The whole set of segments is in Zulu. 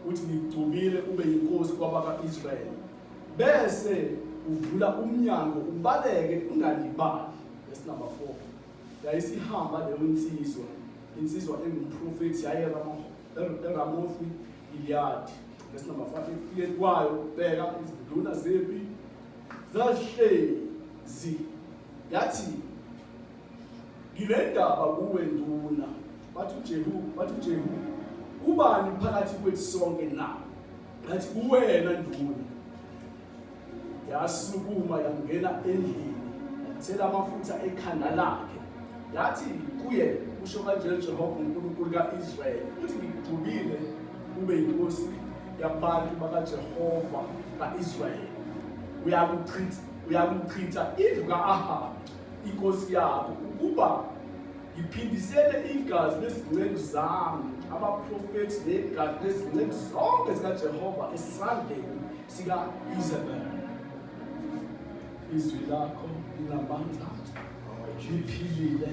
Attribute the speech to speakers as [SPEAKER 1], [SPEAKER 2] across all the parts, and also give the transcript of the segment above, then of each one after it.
[SPEAKER 1] uthi ngigcubile ube yinkosi kwabaka-israyeli bese uvula umnyango ubaleke ungalibali esinumber four yayisihamba leyo nsizwa insizwa engumprofethi yayeramofi iliyadi esinumber five ekufike kwayo bheka izinduna zepi zazihlezi yathi Ngilendaba kuwe nduna bathi uJehu bathi uJehu ubani phakathi kwethu sonke na ngathi uwena nduna yasukuma yangena endlini yathela amafutha ekhanda lakhe yathi kuye usho kanje Jehova uNkulunkulu kaIsrael uthi ngigcubile ube inkosi yabantu bakaJehova kaIsrael uyakuchitha uyakuchitha indlu kaAhabi inkosi yabo ukuba ngiphindisele igazi lezinceku zami abaprofethi negazi lezinceku zonke zikajehova esandleni sika-isabel izwi lakho linamandla liphilile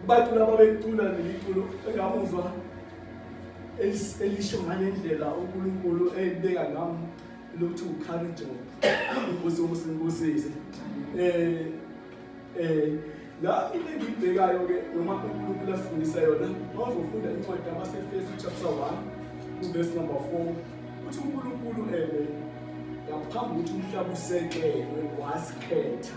[SPEAKER 1] Kubatula babecula neliculo engamuzwa elisho ngale ndlela uNkulunkulu elibeka ngam lokuthi ucourage inkosi umusi ngibusise eh eh la into engiyibhekayo ke noma uNkulunkulu afundisa yona mawuzofunda incwadi yabaseFesu chapter 1 verse number 4 uthi uNkulunkulu ebe ngaphambi ukuthi umhlaba usekelwe wasikhetha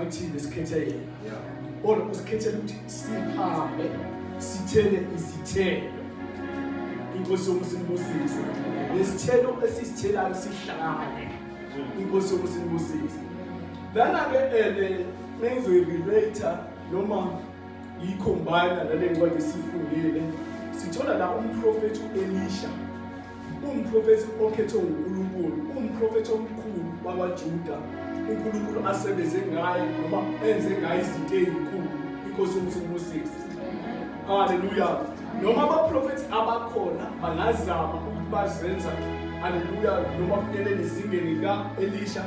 [SPEAKER 1] Athini sikhethe yena. Yeah. Or usikhethe ukuthi sihambe sithele izithelo. Inkosi yokusimbusisa. Lesithelo esisithelayo sihlale. Inkosi yokusimbusisa. Lana ke ele eh, nengizoyi relate noma yicombine nale ncwadi sifundile sithola la umprofethi uElisha Umprofethi okhethwe nguNkulunkulu, umprofethi omkhulu wakwaJuda, uNkulunkulu asebenze ngaye noma enze ngaye izinto ezinkulu, inkosi yomusa ubusisi. Haleluya. Noma abaprofethi abakhona bangazama ukuthi bazenza haleluya noma kunyelele izingeni lika Elisha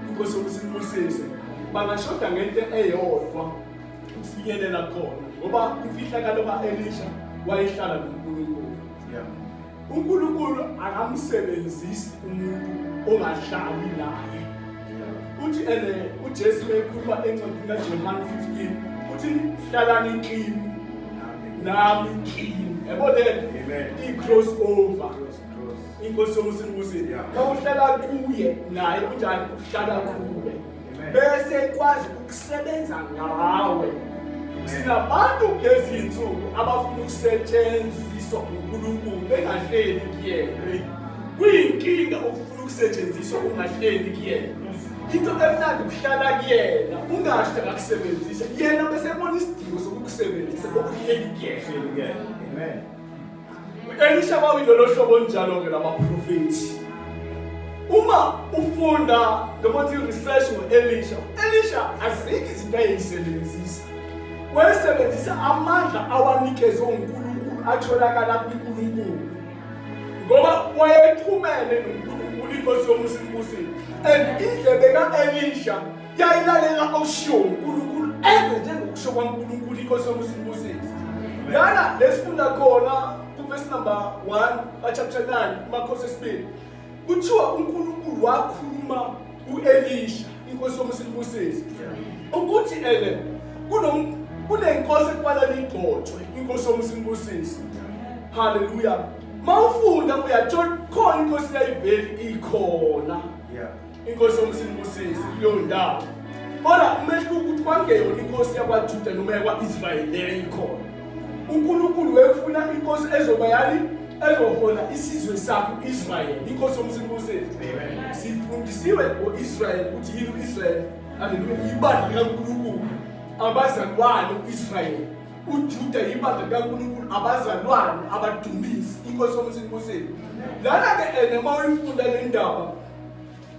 [SPEAKER 1] inkosi yomusa ibusise. Bangashoda ngento eyodwa ukufinyelela khona ngoba imfihlakalo ka-elisha wayehlala nonkulunkulu uNkulunkulu akamsebenzisi umuntu ongahlali naye uthi ene uJesu mekhuluma encwadini kaJohane 15 uthi hlalani kimi nami kimi yabo le i-cross over inkosi yomusa ibuze kawuhlala kuye naye kunjani uhlala kuwe bese ikwazi ukusebenza ngawe sinabantu kulezi nsuku abafuna ukusetshenziswa uNkulunkulu bengahleli kuyena kuyinkinga ukufuna ukusetshenziswa ungahleli kuyena into emnandi ukuhlala kuyena ungasho akakusebenzise yena bese ebona isidingo sokukusebenzisa okuhleli kuyena amen Elisha kwakuyilolo hlobo njalo-ke lamaprofethi uma ufunda noma uthi research ngo-elisha u-elisha azikho izinto ayeyisebenzisa wayesebenzisa amandla awanikezwe unkulunkulu atholakala kunkulunkulu ngoba wayexhumene nonkulunkulu inkosi yomusa inkosini and indlebe ka-elisha yayilalela okushiwo uNkulunkulu enze njengokusho kwaNkulunkulu inkosi yomusimbusisi lana lesifunda khona kuvesi number 1 kachapter 9 umakhosi esibili kuthiwa uNkulunkulu wakhuluma uElisha inkosi yomusimbusisi ukuthi ele kunenkosi ekubala ligcotshwe inkosi yomusimbusisi haleluya mawufunda uyathola khona inkosi yayiveli ikhona yeah inkosi yomsinibusisi kuleyo ndawo kodwa umehluko ukuthi kwangeyona inkosi yakwajuda noma yakwa-israyeli leyo ikhona unkulunkulu wefuna inkosi ezoba yani ezohola isizwe sakho israyeli inkosi yomsinibusisi sifundisiwe ngo-israyeli ukuthi yini u-israyeli aleluya yibandla likankulunkulu abazalwane u-israyeli ujuda yibandla likankulunkulu abazalwane abadumisi inkosi yomsinibusisi lana-ke ene uma uyifunda le ndaba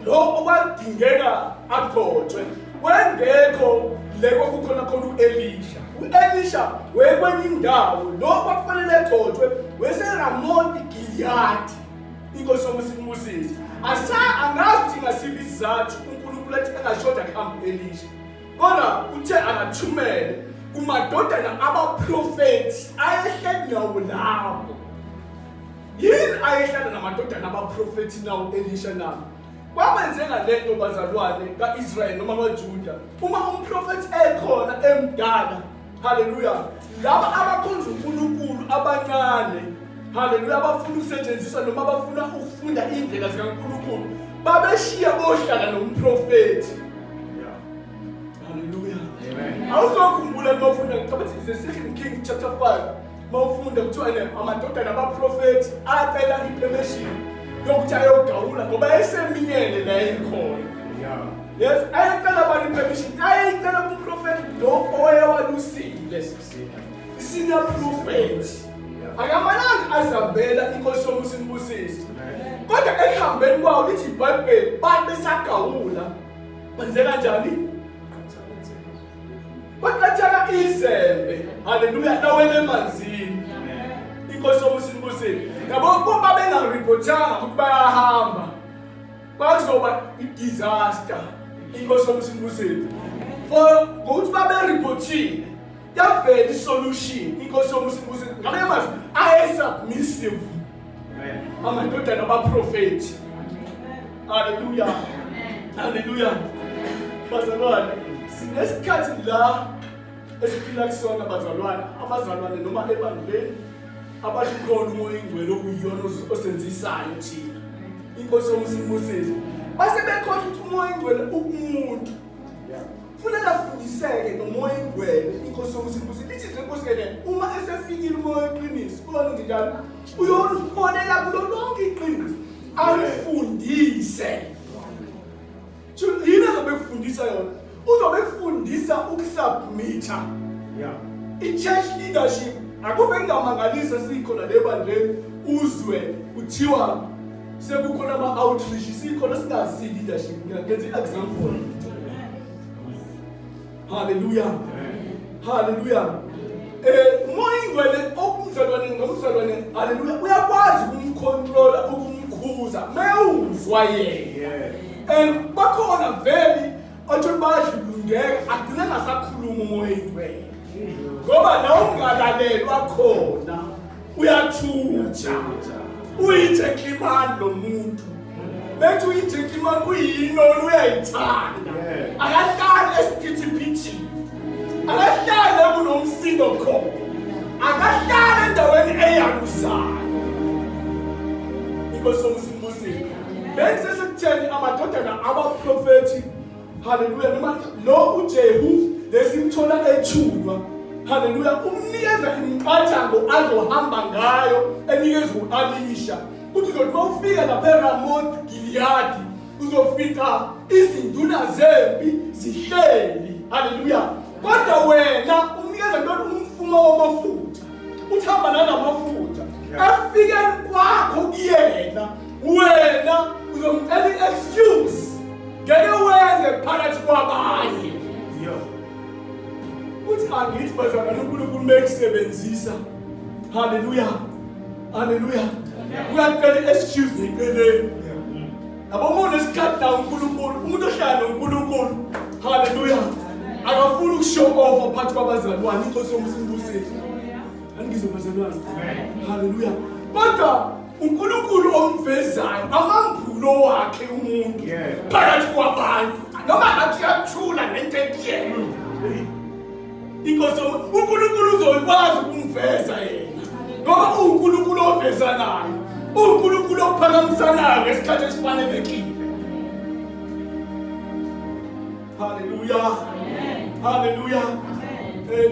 [SPEAKER 1] lo okwadingeka agotshwe wengekho le kwakukhona khona u-elisha u-elisha wekwenye indawo lo kwakufanele egotshwe weseramoti giliyadi inkosi yomusa imbusise asa angazi ukuthi ngasiphi isizathu unkulunkulu athi angashoda kuhambe u-elisha kodwa uthe akathumele kumadodana abaprofethi ayehleli nawo lawo yini ayehlala namadodana abaprofethi nawo elisha nabo kwabenzeka le nto bazalwane ka-israyeli noma kwajuda uma umprofethi ekhona emdala haleluya laba abakhonza unkulunkulu abancane haleluya abafuna ukusetshenziswa noma abafuna ukufunda iy'ndlela zikankulunkulu babeshiya bohlala nomprofethi haleluya awuzokhumbula uma ufunda ngicabanga the second king chapter 5 mawufunda kuthiwa ne amadodana abaprofethi acela ipermission yokuthi ayogawula ngoba eseminyele la ekhona yes ayecela abantu ipermission ayecela kuprofethi lo owayewalusile isina profethi akamalanga azabela inkosi yomusa inibusise kodwa ekuhambeni kwawo lithi ibhayibheli bantu besagawula kwenzeka njani Kwaqathaka izembe. Haleluya lawele emanzini. Inkosi yomusa inibusile. Yabo kuba bengareportanga ukuthi bayahamba. Bazoba i-disaster. Inkosi yomusa inibusile. For ngokuthi babereportile yavela isolution inkosi yomusa inibusile. Ngamanye amazwi ayesubmissive amadodana abaprofethi haleluya haleluya bazalwane sinesikhathi la esiphila kusona bazalwane abazalwane noma ebandleni abalukhona umoya ingcwele okuyiyona osenzisayo thina inkosi yomusa imbusise base bekhohlwa ukuthi umoya ingcwele ukumuntu Funeka afundiseke nomoya ingwele inkosi yomusibusi lithi nje nkosi kene uma esefikile umoya weqiniso kulona ndidala uyolubonela kulo lonke iqiniso alifundise yini azobe kufundisa yona uzobe kufundisa ukusubmitha yeah. i-church leadership akube kungamangalisa sikhona le bandleni uzwe kuthiwa sekukhona ama-outreach sikhona singazi leadership ngenza i-example halleluya halleluya um umoya ingwele okumzalwane ngomzalwane halleluya uyakwazi ukumkhontrola ukumkhuza mewuzwa yena and bakhona vele Othi ubadla ublundeka agcine ngasakhuluma umoya ingcwele. Ngoba la ungalalelwa khona uyathutha. Uyitheklimani lo muntu. Bethi uyitheklimani uyinoni uyayithanda. Akahlali esiphithiphithini. Akahlali kunomsindo khona. Akahlali endaweni eyalusayo. Inkosi bengisesekutheni amadodana abaprofethi haleluya noma lo ujehu lesimthola ethulwa haleluya umnikeza imiqathango azohamba ngayo enikeza u-alisha kuthi zothi uma ufika lapha eramoth giliyadi uzofica izinduna zempi zihleli haleluya kodwa wena umnikeza ntoni umfumo wamafutha uthamba nanamafutha efikeni kwakho kuyena wena uzomcela i-excuse ngeke wenze phakathi kwabanye uthi angithi bazalwane unkulunkulu mekusebenzisa haleluya haleluya uyacela i-excuse ngeceleni yabo uma unesikhathi nawo unkulunkulu umuntu ohlala nonkulunkulu haleluya akafuni ukushow off phakathi kwabazalwane inkosi yomsibusile angizo bazalwane haleluya kodwa uNkulunkulu omvezayo amambulo wakhe umuntu phakathi kwabantu noma ngathi uyathula ngento ekuyena hmm. inkosi uNkulunkulu uzoyikwazi ukumveza yena ngoba uNkulunkulu ovezanayo uNkulunkulu ophakamisanayo ngesikhathi esifanelekile haleluya haleluya eh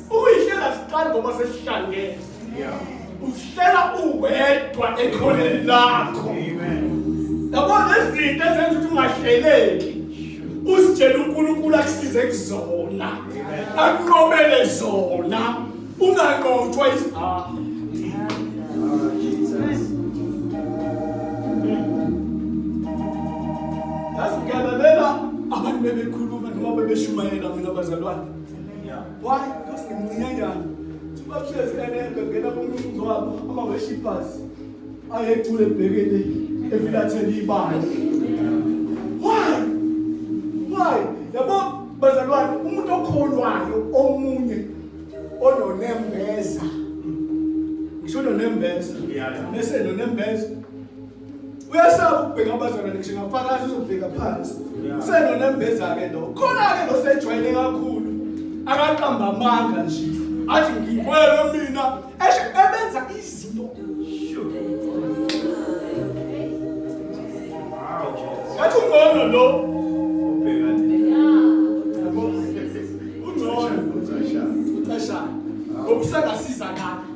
[SPEAKER 1] Uyihlela siqali ngoba sesihlangene. Yeah. Uhlela uwedwa ekhoneni lakho. Amen. Yabo nezinto ezenza ukuthi ungahleleki. Usitshela uNkulunkulu akusize kuzona. Akunqobele zona. Unganqotshwa izihawu. Yazi ngiyalalela abantu bebekhuluma noma bebeshumayela mina bazalwane. why because ngimncinyanyana bahlezi enenke ngena komunye umzwabo uma weshibhas ayecule ebhekele efilathele ibala why why yabo bazalwane umuntu okholwayo omunye ononembeza ngisho nonembeza nese nonembeza uyasaba ukubheka abazalwane ngisho ngafakazi uzobheka phansi usenonembeza-ke lo khona-ke losejwayele kakhulu akaqamba amanga nje athi ngikwele mina esho ebenza izinto ngathi ungcono lo ungcono ucashana ngokusengasiza kade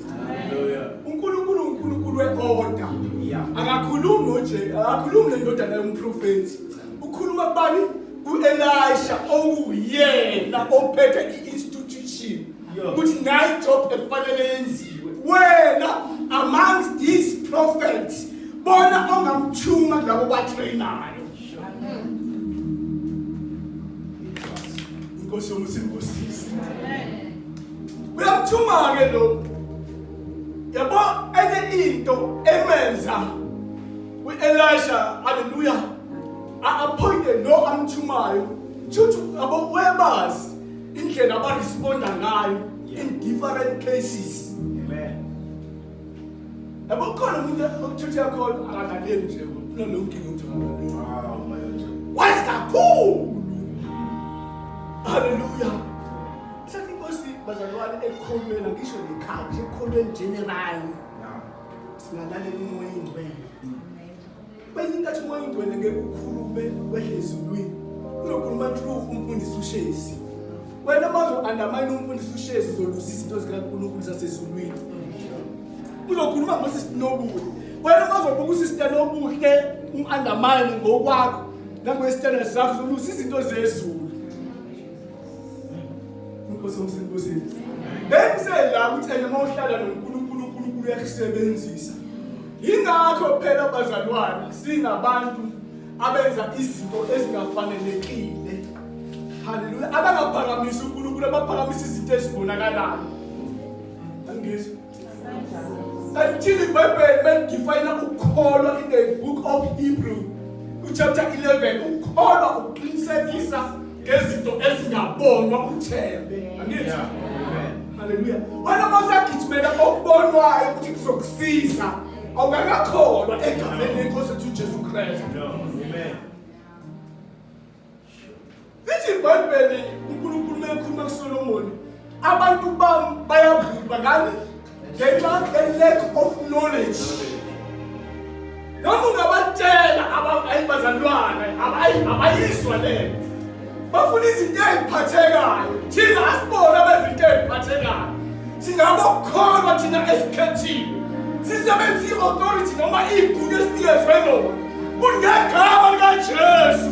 [SPEAKER 1] unkulunkulu unkulunkulu we-oda akakhulumi noje akakhulumi nendodana yomprofethi ukhuluma kubani ku-elisha okuwuyena ophethe i-institution ukuthi naye ijob ekufanele yenziwe wena amongst these prophets bona ongamthuma kulabo batrayinayo Nkosi yomusa inkosisi. Amen. Uyakuthuma-ke lo yabo enye into emenza u-elisha haleluya a-appointe lo amthumayo shuthi yabo webazi indlela abaresponda ngayo in different cases yabo khona umuntu okuthuthi yakhona akalaleli nje kunalonkinga ukuthi akalaleli wazi kakhulu haleluya Sasa inkosi bazalwane ekholweni ngisho nekhaya nje ekholweni general. Singalale kumoya ingcwele. Kwenye inkathi umoya ingcwele ngeke ukhulume wehle ezulwini. Unokhuluma true umfundisi ushezi. Wena manje undermine umfundisi ushezi uzoluzisa izinto zikaNkulunkulu zasezulwini. Uzokhuluma ngosi sinobuhle. Wena manje ubuka usister nobuhle u-undermine ngokwakho nangoyesithandwa sakho uzoluzisa izinto zezulu. Inkosi omsebenzini. Bengise la ukuthi ena uma uhlala noNkulunkulu uNkulunkulu uyakusebenzisa. Ingakho phela bazalwane singabantu abenza izinto ezingafanelekile. Haleluya. Abangaphakamisi uNkulunkulu abaphakamisa izinto ezibonakalayo. Angizwa Until iBhayibheli belidefine ukukholwa in the book of Hebrew chapter 11 ukukholwa ukuqinisekisa ngezinto ezingabonwa uthembe. Angithi? Haleluya. Wena mosagijimela okubonwayo ukuthi kuzokusiza awukakakholwa egameni lenkosi ethu uJesu Kristu. Amen. Lithi iBhayibheli uNkulunkulu mekhuluma kuSolomoni, abantu bami bayabhubha ngani? Ngenxa ye-lack of knowledge. Noma ungabatshela ayi bazalwane, abayizwa lento. Bafuna izinto eziphathekayo. Thina asibona bezinto eziphathekayo. Singabokholwa thina esikhethiwe. Sisebenzisa i-authority noma igunya esinikezwe lona. Kungegama likaJesu.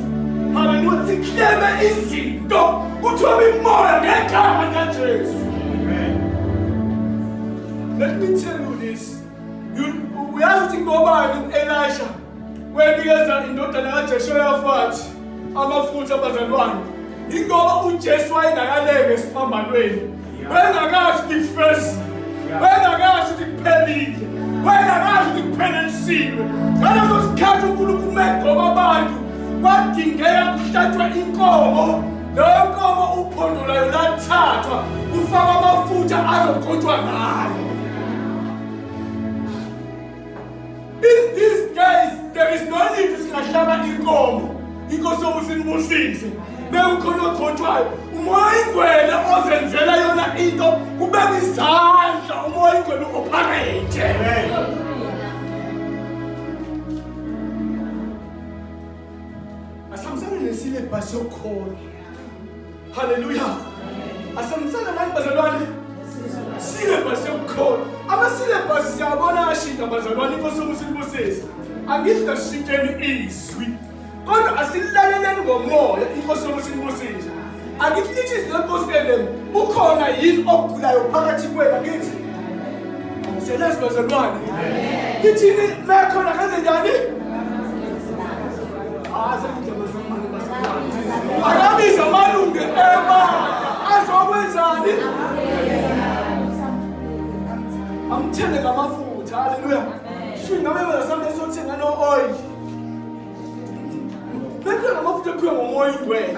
[SPEAKER 1] Haleluya. Sikleme izinto. Uthobe imoya ngegama likaJesu. Amen. Let me tell you this. Uyazi ukuthi ngobani u-Elisha wenikeza indodana kaJeshoyafathi amafutha abazalwane. Ingoba uJesu wayengakalenge esiphambanweni. Bengakazi ngifezi. Bengakazi ngiphelile. Bengakazi ngiphelelisiwe. Ngaleso sikhathi uNkulunkulu megoba abantu kwadingeka kuhlatshwe inkomo. Leyo nkomo uphondo layo lathathwa kufakwa amafutha azogotshwa ngayo. In these days there is no need to singahlaba inkomo inkosi yokuthi nibusise bewukhona ogcotshwayo umoya ingwele ozenzela yona into kubeka izandla umoya ingwele u-operate asamsane nesilebhasi yokukhona Haleluya. Asemsana manje bazalwane. Syllabus yokukhona. Ama syllabus siyabona ashintsha bazalwane inkosi umusibusisa. Angidla shintsheni izwi. Kodwa asilaleleni ngomoya inkosi umusibusisa. Angiklithi izinkosi elem ukhona yini ogulayo phakathi kwenu ngithi. Selezwe bazalwane. Ngithini la khona kanjani? Akabiza amalungu ema azokwenzani? Amthele ngamafutha. Haleluya. Shinga bebe sambe sothenga no oil. Bebe ngamafutha kuyo ngomoya ingwele.